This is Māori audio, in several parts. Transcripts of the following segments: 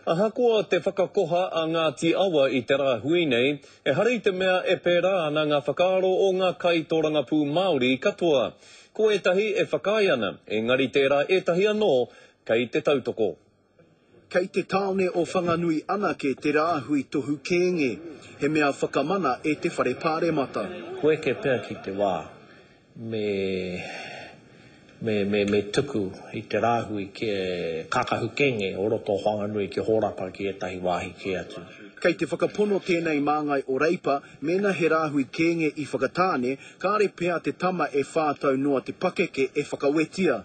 Ahakoa te whakakoha a Ngāti Awa i te rāhui nei, ehara i te mea e pērā ana ngā whakaaro o ngā kaitōrangapū Māori katoa. Ko ētahi e whakaae ana, engari tērā ētahi anō kei te tautoko. Kei te tāone o Whanganui anake te rāhui tohu kēnge, he mea whakamana e te Whare Pāremata. Koeke pea ki te wā. me me me me tuku i te rāhui ki e Kākahu Kenge o roto o Whanganui ki Hōrapa ki ētahi wāhi kē atu. Kei te whakapono tēnei māngai o Reipa, mēnā he rāhui Kenge i Whakatāne, kāre pea te tama e whā tau noa te pakeke e whakawetia.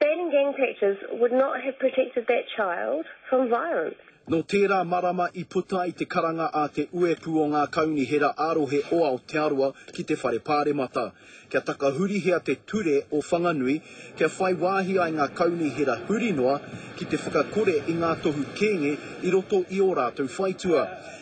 Banning gang pictures would not have protected that child from violence. Nō tērā marama i puta ai te karanga a Te Uepū o Ngā Kaunihera ā-Rohe o Aotearoa ki te Whare Pāremata, kia takahurihia te ture o Whanganui, kia whai wāhi ai ngā kaunihera huri noa ki te whakakore i ngā tohu kēnge i roto i ō rātou whaitua.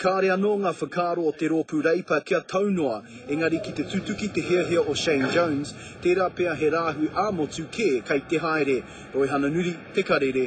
Kāre anō ngā whakaaro o te Rōpū Reipa kia tau noa, engari ki te tutuki te hiahia o Shane Jones, tērā pea he rāhui ā-motu kē kei te haere. Roihana Nuri, Te Karere.